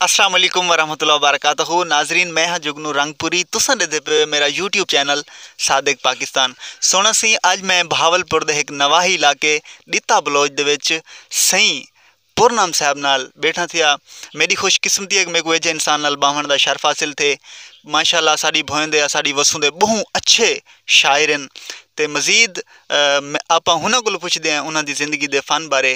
السلام علیکم ورحمۃ اللہ وبرکاتہ ناظرین میں ہاں جگنو رنگ پوری تساں ڈے دے پے میرا یوٹیوب چینل صادق پاکستان سونا سی اج میں بہاول پور دے ایک نواہی علاقے ڈتا بلوچ دے وچ سئی پورنام صاحب نال بیٹھا تھیا میری خوش قسمتی ہے کہ میں کوئی ایجے انسان نال باہن دا شرف حاصل تھے ماشاءاللہ اللہ ساڑی بھوئیں دے ساڑی وسوں دے بہوں اچھے شاعر ہیں تے مزید آپ ہنہ کل پوچھ دے ہیں انہاں دی زندگی دے فن بارے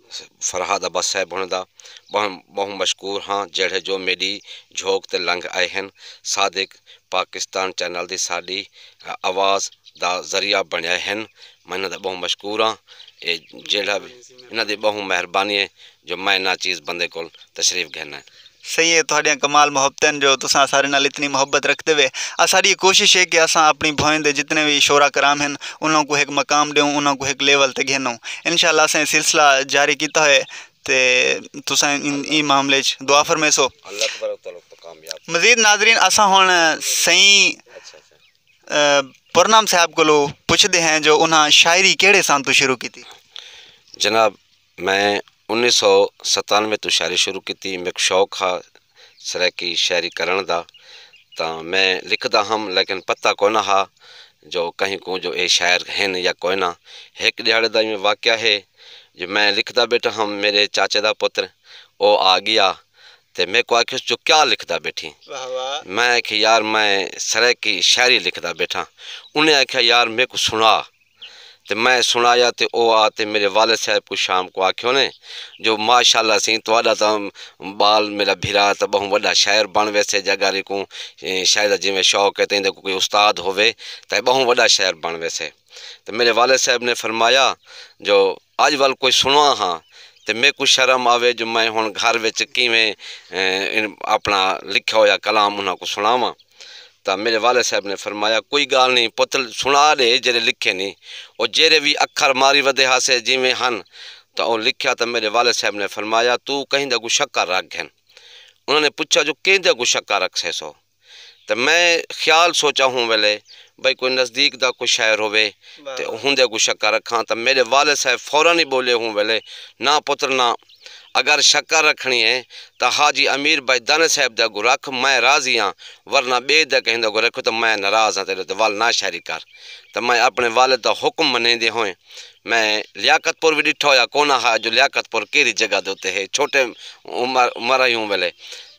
فرہاد عباس صاحب ہوݨیں دا ٻہوں مشکور ہاں جیڑھے جو میݙی جھوک تے لنگھ آئے ہن۔ صادق پاکستان چینل دی ساݙی آواز دا ذریعہ بݨیائے ہن۔ میں انہاں دا ٻہوں مشکور ہاں۔ اے جیڑھا وی انہاں دی ٻہوں مہربانی ہے جو میں انہاں چیز بندے کول تشریف گھن آئے۔ سئیں اے تہاڈیاں کمال محبتیں ہن جو تساں اساڈے نال اتنی محبت رکھدے وے۔ اساڈی اے کوشش اے کہ اساں اپنڑی بھوئیں دے جتنے وی شعراء کرام ہن انہاں کوں ہک مقام ڈیوں انہاں کوں ہک لیول تے گھنوں۔ انشاء اللہ اساں اے سلسلہ جاری کیتا ہوئے تے تساں ایں معاملے اچ دعا فرمیسو۔ مزید ناظرین اساں ہن سئیں پرنام صاحب کولوں پچھدے ہیں جو انہاں شاعری کیہڑے سال توں شروع کیتی؟ جناب میں انیس سو ستانوے توں شاعری شروع کیتی۔ میک شوق ہا سرائیکی شاعری کرنڑ دا تاں میں لکھدا ہم لیکن پتہ کوئناں ہا جو کہیں کوں جو اے شاعر ہن یا کوئناں۔ ہک ڈیہاڑے دا ایویں واقعہ ہے جو میں لکھدا بیٹھا ہم میڈے چاچے دا پتر او آ گیا تے میکوں آکھیس جو کیا لکھدا بیٹھیں؟ میں آکھیا یار میں سرائیکی شاعری لکھدا بیٹھاں انہیں آکھیا یار میکوں سنڑا۔ تے میں سنڑایا تے او آ تے میڈے والد صاحب کوں شام کوں آکھیو نے جو ماشاء اللہ سئیں تہاڈا تاں بال میڈا بھرا تاں بہوں وڈا شاعر بنڑ ویسے جے اگر ایکوں شاعری دا جیویں شوق ہے تاں ایندے کوں کوئی استاد ہووے تاں اے بہوں وڈا شاعر بنڑ ویسے تے میڈے والد صاحب نے فرمایا جو اج ول کجھ سنواں ہاں تے میکوں شرم آوے جو میں ہن گھر وچ کیویں اپنا لکھیا ہویا کلام انہاں کوں سنڑاواں تاں میڈے والد صاحب نے فرمایا کوئی گالھ نئیں پتر سنڑا ڈے جیڈے لکھے نی او جیڈے وی اکھر ماری ودے ہاسے جیویں ہن تاں او لکھیا تاں میڈے والد صاحب نے فرمایا توں کہیں دے اگوں شکا رکھ گھن انہاں نے پچھیا جو کیندے اگوں شکا رکھسیسو؟ تے میں خیال سوچا ہوں ویلے بھئی کوئی نزدیک دا کوئی شاعر ہووے تے ہوندے اگوں شکر رکھاں تاں میڈے والد صاحب فورا ای بولے ہوں ویلے ناں پتر ناں اگر شکر رکھنی اے تاں حاجی امیر بھائی دانے صاحب دے اگوں رکھ میں راضی ہاں ورنہ بے دے کہیں دے اگوں رکھو تاں میں ناراض ہاں تیڈے ول ناں شاعری کر تاں میں اپنے والد دا حکم منیندے ہوئیں میں لیاقت پور وی ڈٹھا ہویا کوناں ہا جو لیاقت پور کیرھی جگہ دے اتے ہے چھوٹے عمر عمر ہی ہوں ویلے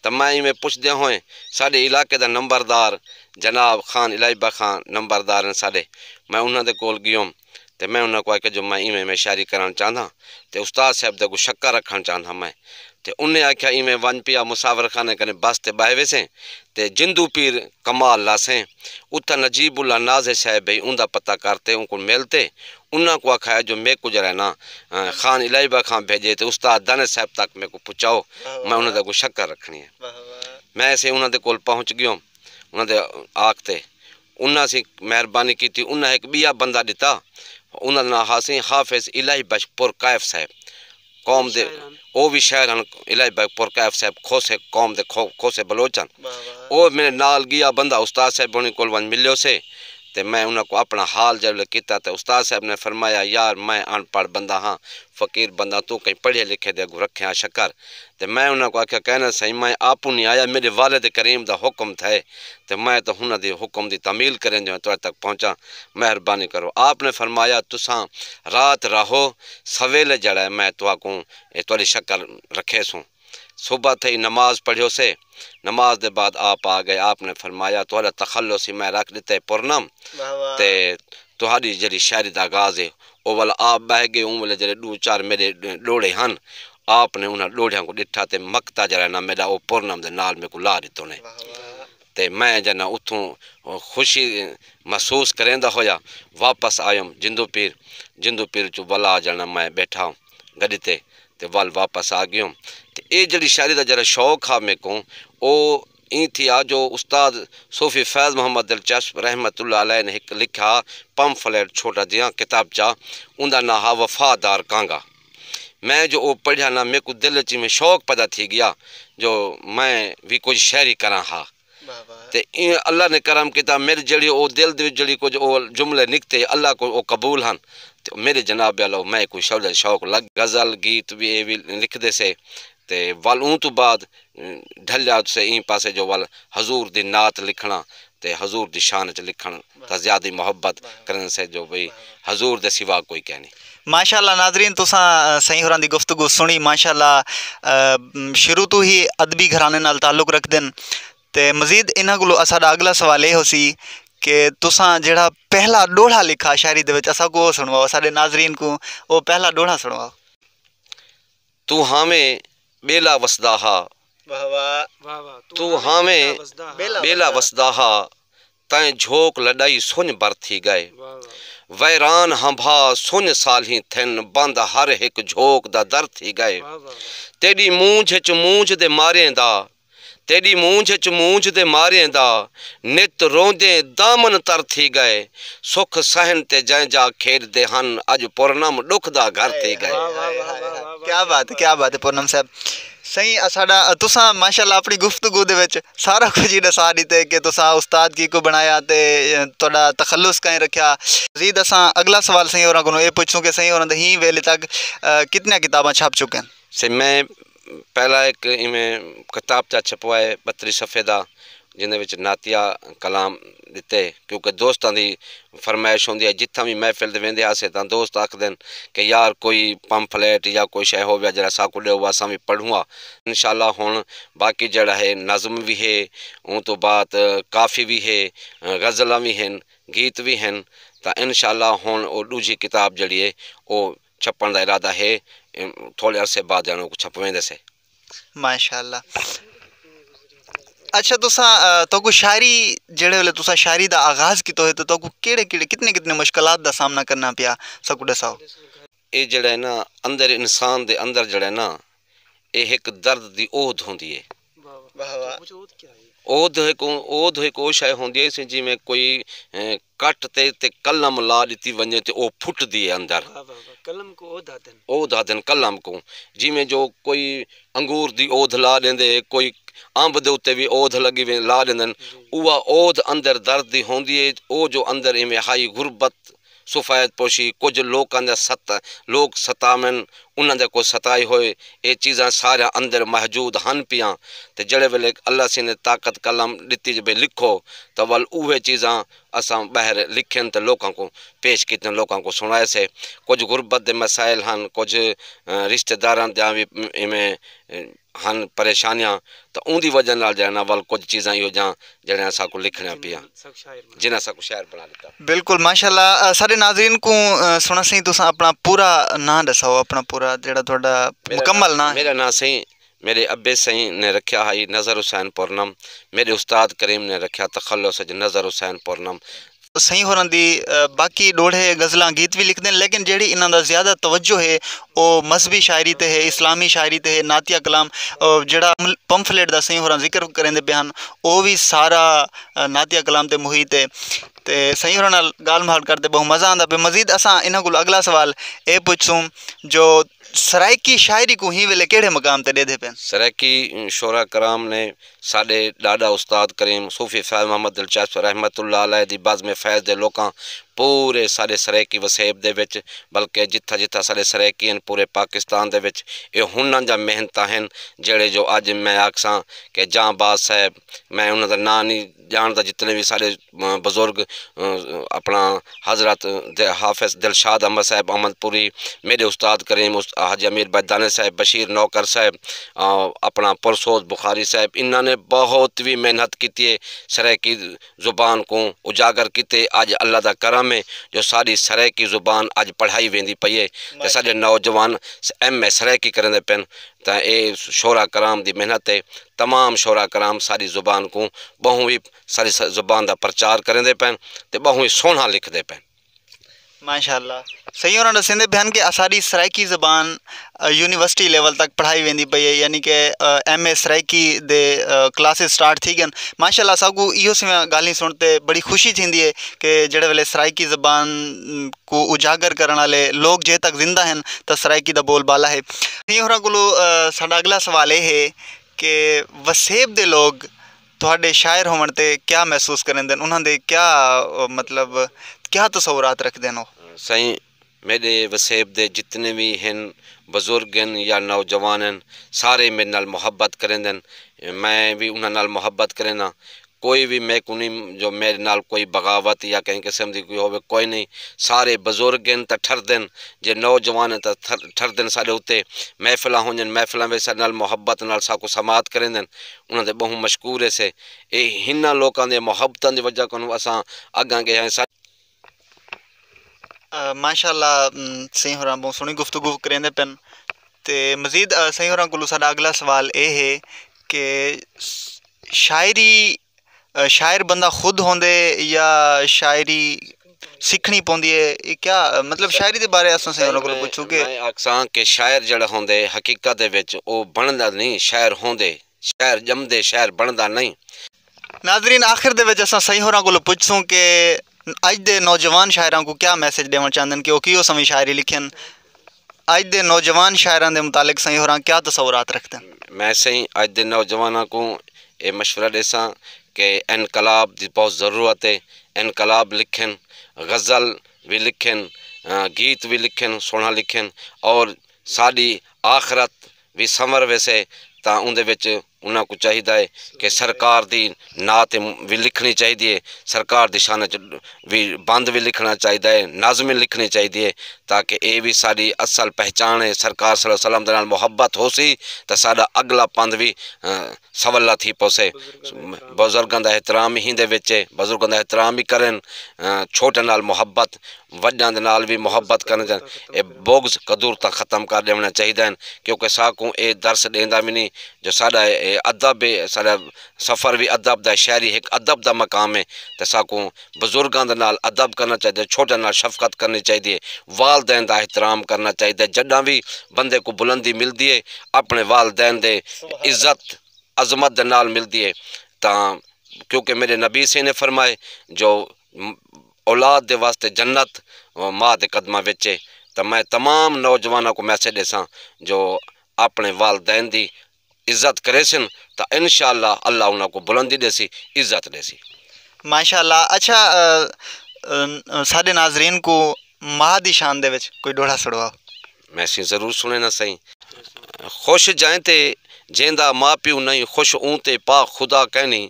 تاں میں ایویں پچھدیاں ہوئیں ساڈے علاقے دا نمبردار جناب خان الہیبہ خان نمبردار ہن ساڈے میں انہاں دے کول گیوم تے میں انہاں کوں آکھیا جو میں ایویں ایویں شاعری کرنڑ چاہنداں تے استاد صاحب دے اگوں شکر رکھنڑ چاہنداں میں تے انہیں آکھیا ایویں ونج پیا مسافر خانے کنیں بس تے بہہ ویسیں تے جندوں پیر کمال لاسیں اتھاں نجیب اللہ نازے صاحب ہئی اوندا پتہ کر تے اونکوں مل تے انہاں کوں آکھایا جو میکوں ذرا انہاں خان الہی بخش خاں بھیجے تے استاد دانش صاحب تک میکوں پچاؤ میں انہاں دے اگوں شکر رکھنی اے۔ میں اسیں انہاں دے کول پہنچ گیوم انہاں دے آکھ تے انہاں اسیں مہربانی کیتی انہاں ہک بیا بندہ ڈتا انہاں دا ناں ہا سئیں حافظ الہی بخش پرکائف صاحب۔ قوم دے او وی شاعر ہن الہی بھائی پور کیف صاحب کھوسے قوم دے کھوسے بلوچ ہن او میڈے نال گیا بندہ استاد صاحب ہونی کول ونج ملیو سے تے میں انہاں کوں اپنا حال جے ویلے کیتا تے استاد صاحب نے فرمایا یار میں ان پڑھ بندہ ہاں فقیر بندہ توں کہیں پڑھے لکھے دے اگوں رکھے ہاں شکر تے میں انہاں کوں آکھیا کہنا سئیں میں آپوں نی آیا میڈے والد کریم دا حکم تھئے تے میں تاں ہنہاں دی حکم دی تعمیل کریندے ہوئے تہاڈے تک پہنچاں مہربانی کرو آپ نے فرمایا تساں رات راہو سویلے جیڑھا ہے میں تہاکوں اے تہاڈی شکل رکھیسوں۔ صبح تھئی نماز پڑھیوسے۔ نماز دے بعد آپ آ گئے۔ آپ نے فرمایا تہاڈا تخلص ہی میں رکھ ڈتے پرنم تے تہاڈی جیڑھی شاعری دا آغاز ہے۔ او ولا آپ بہہ گئے اوں ویلے جیڑھے ڈو چار میڈے ڈوہڑے ہن آپ نے انہاں ڈوہڑیاں کوں ڈٹھا تے مقطع جیڑھا ہے نا میڈا او پرنم دے نال میکوں لا ڈتو نے۔ تے میں جنہاں اتھوں خوشی محسوس کریندا ہویا واپس آیوم جندو پیر جندو پیر اچوں ولا آ جنہاں میں بیٹھا گڈی تے تے ول واپس آ گیوم تے اے جیڑھی شاعری دا جیڑھا شوق ہا میکوں او ایں تھیا جو استاد صوفی فیض محمد دلچسپ رحمت اللہ علیہ نے ہک لکھا پمفلیٹ چھوٹا جیاں کتابچہ اوندا ناں ہا وفادار کانگا۔ میں جو او پڑھیا نا میکوں دل اچ ایویں شوق پیدا تھی گیا جو میں وی کجھ شعری کراں ہا تے ایویں اللہ نے کرم کیتا میڈے جیڑھی او دل دے وچ جیڑھی کجھ او جملے نکتے اللہ کول او قبول ہن تے میڈے جناب والا او میں کوں شعلہ شوق لگ غزل گیت وی اے وی لکھدے سے تے ول اوں توں بعد ڈھلیا تسے ایں پاسے جو ول حضور دی نعت لکھنڑاں تے حضور دی شان اچ لکھنڑ تاں زیادی محبت کرن سے جو بھئی حضور دے سوا کوئی کینی۔ ماشاء اللہ ناظرین تساں سئیں ہوراں دی گفتگو سنڑی ماشاء اللہ شروع توں ہی ادبی گھرانے نال تعلق رکھدن تے مزید انہاں کولوں اساڈا اگلا سوال اے ہوسی کہ تساں جیڑھا پہلا ڈوہڑا لکھا شاعری دے وچ اساں کوں او سنڑواؤ اساڈے ناظرین کوں او پہلا ڈوہڑا سنڑواؤ۔ توں ہاویں ٻیلا وسدا ہا واہ واہ توں ہاویں ٻیلا وسدا ہا تئیں جھوک لݙائی سنڄ بر تھی ڳئے ویران ہنبھا سنڄ سالھیں تھن بند ہر ہک جھوک دا در تھی ڳئے تیݙی مونجھ اچ مونجھ دے ماریں دا تیݙی مونجھ اچ مونجھ دے ماریں دا نت روندیں دامن تر تھی ڳئے سکھ سہن تے جئیں جا کھیݙدے ہن اڄ پورنم ݙکھ دا گھر تھی ڳئے۔ کیا بات ہے کیا بات ہے پورنم صاحب۔ سئیں اساڈا تساں ماشاءاللہ اپݨی گفتگو دے وچ سارا کجھ ہی ݙسا ݙتے کہ تساں استاد کیکوں بݨایا تے تہاݙا تخلص کئیں رکھیا مزید اساں اڳلا سوال سئیں ہوراں کولوں اے پچھسوں کہ سئیں ہوراں دے ہی ویلے تک کتنیاں کتاباں چھپ چکین؟ سئیں میں پہلا ہک ایویں کتابچہ چھپوائے ٻتریہہ صفحے دا جیندے وچ نعتیہ کلام ݙتے کیونکہ دوستاں دی فرمائش ہوندی ہئی جتھاں وی محفل تے ویندے ہاسے تاں دوست آکھدن کہ یار کوئی پمفلیٹ یا کوئی شئے ہوویا جیڑھا ساکوں ݙیؤ اساں وی پڑھوں ہا۔ انشاءاللہ ہݨ باقی جیڑھا ہے نظم وی ہے اوں توں بعد کافی وی ہے غزلاں وی ہن گیت وی ہن تاں انشاءاللہ ہݨ او ݙوجھی کتاب جیڑھی ہے او چھپݨ دا ارادہ ہے تھوڑے عرصے بعد جݨو چھپویندے سے۔ ماشاءاللہ اچھا تسا تو کو شاعری جڑے والے تسا شاعری دا آغاز کیتا ہوئے تو کو کیڑے کیڑے کتنے کتنے مشکلات دا سامنا کرنا پیا سکو دے ساو اے جڑے نا اندر انسان دے اندر جڑے نا اے ہک درد دی اودھ ہوندی ہے اودھ ہک اودھ ہک او شاعر ہوندی ہے جی میں کوئی کٹ تے اتے قلم لا ݙتی ونڄے تے او پھٹدی ہے اندر۔ واہ واہ واہ قلم کوں اودھ آہدن۔ اودھ آہدن قلم کوں۔ جیویں جو کوئی انگور دی اودھ لا ݙیندے ہے کوئی امب دے اتے وی اودھ لڳی ویندی لا ݙیندن اوہا اودھ اندر درد دی ہوندی ہے او جو اندر ایویں ہائی غربت سفید پوشی کجھ لوکاں دا ست لوک ستاون انہاں دے کوں ستائے ہوئے اے چیزاں ساریاں اندر محجود ہن پیاں تے جیڑھے ویلے اللہ سینے طاقت قلم ڈتی جو بھئی لکھو تاں ول اوہے چیزاں اساں بہر لکھن تے لوکاں کوں پیش کیتن لوکاں کوں سنڑائے سے کجھ غربت دے مسائل ہن کجھ رشتہ داراں دیاں وی ایویں ہن پریشانیاں تاں اوندی وجہ نال جیڑھا نا ول کجھ چیزاں ایہو جیاں جیڑھیاں اساں کوں لکھنیاں پیاں جنہاں اساں کوں شاعر بنا ڈتا۔ بالکل ماشاء اللہ ساڈے ناظرین کوں سنڑاں سئیں تساں اپنا پورا ناں ڈساؤ اپنا پورا جیڑھا تہاڈا مکمل ناں ہے۔ میڈا ناں سئیں میڈے ابے سئیں نے رکھیا ہئی نظر حسین پورنم میڈے استاد کریم نے رکھیا تخلص اچ نظر حسین پورنم سئیں ہوراں دی باقی ݙوہڑے غزلاں گیت وی لکھدے ہن لیکن جیڑھی انہاں دا زیادہ توجہ ہے او مذہبی شاعری تے ہے اسلامی شاعری تے ہے نعتیہ کلام جیڑھا پمفلیٹ دا سئیں ہوراں ذکر کریندے پئے ہن او وی سارا نعتیہ کلام تے محیط ہے تے سئیں ہوراں نال ڳالھ مہاڑ کر تے ٻہوں مزہ آندا پئے مزید اساں انہاں کولوں اڳلا سوال اے پچھسوں جو سرائیکی شاعری کوں ہی ویلے کیڑھے مقام تے ݙیدھے پئے ہن۔ سرائیکی شعراء کرام نے ساݙے ݙاݙا استاد کریم صوفی فیض محمد دلچسپ رحمت اللہ علیہ دی بزم فیض دے لوکاں پورے ساݙے سرائیکی وسیب دے وچ بلکہ جتھاں جتھاں ساݙے سرائیکی ہن پورے پاکستان دے وچ ایہ ہنݨ جاں محنتاں ہن جیڑھے جو اڄ میں آکھساں کہ جاں باز صاحب میں انہاں دا ناں نی ڄاݨدا جتنے وی ساݙے بزرگ اپنڑاں حضرت حافظ دلشاد احمد صاحب احمد پوری میڈے استاد کریم حاجی امیر بھائی دانش صاحب بشیر نوکر صاحب اپنڑاں پرسوز بخاری صاحب انہاں نے بہت وی محنت کیتی ہے سرائیکی زبان کوں اجاگر کیتے اج اللہ دا کرم ہے جو ساڈی سرائیکی زبان اج پڑھائی ویندی پئی ہے تے ساڈے نوجوان ایم اے سرائیکی کریندے پن تے اے شعرا کرام دی محنت ہے تمام شعرا کرام ساڈی زبان کوں بہوں وی ساری زبان دا پرچار کریندے پئن تے ٻہوں ای سوہݨا لکھدے پئن۔ ماشاء اللہ سئیں ہوراں ݙسیندے پئے ہن کہ اساݙی سرائیکی زبان یونیورسٹی لیول تک پڑھائی ویندی پئی ہے یعنی کہ ایم اے سرائیکی دے کلاسز سٹارٹ تھی ڳن ماشاء اللہ اساکوں ایہو سویاں ڳالھیں سݨ تے بڑی خوشی تھیندی ہے کہ جیڑھے ویلے سرائیکی زبان کوں اجاگر کرݨ آلے لوک جے تک زندہ ہن تاں سرائیکی دا ٻول ٻالا ہے سئیں ہوراں کولوں ساݙا اڳلا سوال اے ہے کہ وسیب دے لوک تہاݙے شاعر ہووݨ تے کیا محسوس کریندن انہاں دے کیا مطلب کیا تصورات رکھدن او؟ سائیں میݙے وسیب دے جتنے وی ہن بزرگ ہن یا نوجوان ہن سارے میݙے نال محبت کریندن میں وی انہاں نال محبت کرینداں کوئی وی میکوں نی جو میݙے نال کوئی بغاوت یا کہیں قسم دی کوئی ہووے کوئی نی سارے بزرگ ہن تاں ٹھردن جے نوجوان ہن تاں ٹھردن ساݙے اتے محفلاں ہونجن محفلاں وچ ساݙے نال محبت نال ساکوں سماعت کریندن انہاں دے ٻہوں مشکور ہیسے۔ اے ہناں لوکاں دیاں محبتاں دی وجہ کنوں اساں اگاں گئے ہائیں۔ ماشاء اللہ سئیں ہوراں بہوں سوہنی گفتگو کریندے پن تے مزید سئیں ہوراں کولوں ساڈا اگلا سوال اے ہے کہ شاعری شاعر بندہ خود ہوندے یا شاعری سکھنی پوندی ہے اے کیا مطلب شاعری دے بارے اساں سائیں انہاں کولوں پچھوں گے میں آکھساں کہ شاعر جیڑھا ہوندے حقیقت دے وچ او بنڑدا نئیں شاعر ہوندے شاعر ڄمدے شاعر بنڑدا نئیں۔ ناظرین آخر دے وچ اساں سائیں ہوراں کولوں پچھسوں کہ اج دے نوجوان شاعراں کوں کیا میسج ݙیوݨ چاہندن کہ او کیوں سویں شاعری لکھن۔ اڄ دے نوجوان شاعراں دے متعلق سئیں ہوراں کیا تصورات رکھدن؟ میں سئیں اڄ دے نوجواناں کوں اے مشورہ ݙیساں کہ انقلاب دی بہت ضرورت اے، انقلاب لکھن، غزل وی لکھن، گیت وی لکھن، سوہݨا لکھن اور ساݙی آخرت وی سنور ویسے تاں اوندے وچ انہاں کوں چاہیدا اے کہ سرکار دی نعت وی لکھنڑی چاہیدی اے، سرکار دی شان اچ وی بند وی لکھنڑاں چاہیدا اے، نظم وی لکھنڑی چاہیدی اے تاکہ اے وی ساڈی اصل پہچان اے، سرکار صلی اللہ علیہ وسلم دے نال محبت ہوسی تاں ساڈا اگلا پندھ وی سولا تھی پوسے۔ بزرگاں دا احترام ہی ایندے وچ ہے، بزرگاں دا احترام ہی کرن، چھوٹاں نال محبت، وڈاں دے نال وی محبت کرن تے اے بغض کدورتاں ختم کر ݙیوݨاں چاہیدا ہن کیونکہ ساکوں اے درس ݙیندا وی نی جو ساݙا اے ادب اے، ساݙا سفر وی ادب دا اے، شاعری ہک ادب دا مقام اے تے ساکوں بزرگاں دے نال ادب کرنا چاہیدے، چھوٹیاں نال شفقت کرنی چاہیدی ہے، والدین دا احترام کرنا چاہیدے، جڈاں وی بندے کوں بلندی ملدی ہے اپنے والدین دے عزت عظمت دے نال ملدی ہے تاں کیونکہ میڈے نبی ص نے فرمائے جو اولاد دے واسطے جنت ماء دے قدماں وچ ہے تاں میں تمام نوجواناں کوں میسج ڈیساں جو اپنے والدین دی عزت کریسن تاں انشاءاللہ اللہ انہاں کوں بلندی ݙیسی عزت ݙیسی۔ ماشاءاللہ اچھا ساݙے ناظرین کوں ماہ دی شان دے وچ کوئی ݙوہڑا سݙواؤ۔ میں سئیں ضرور سݨینا سئیں۔ خوش جئیں تے جیندا ماء پیو نئیں خوش اوں تے پاک خدا کائنی۔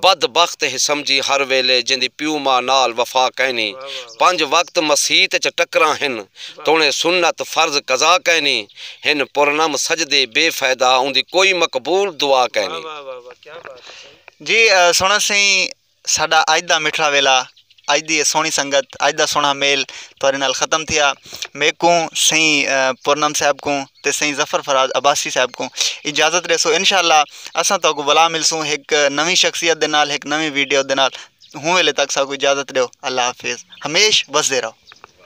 بد بخت ہے سمجھی ہر ویلے جیندی پیو ماء نال وفا کینی پنج وقت مسیت اچ ٹکراں ہن توڑیں سنت فرض قضا کینی ہن پرنم سجدے بے فائدہ اوندی کوئی مقبول دعا کینی۔ جی سنڑ سئیں ساڈا اج دا مٹھڑا ویلا اج دی اے سوہنی سنگت اج دا سوہنا میل تہاڈے نال ختم تھیا میکوں سئیں پورنم صاحب کوں تے سئیں ظفر فراز عباسی صاحب کوں اجازت ڈیسو انشاءاللہ اساں تہاکوں بلا ملسوں ہک نویں شخصیت دے نال ہک نویں ویڈیو دے نال ہوں ویلے تک ساکوں اجازت ڈیو اللہ حافظ ہمیش وسدے رہو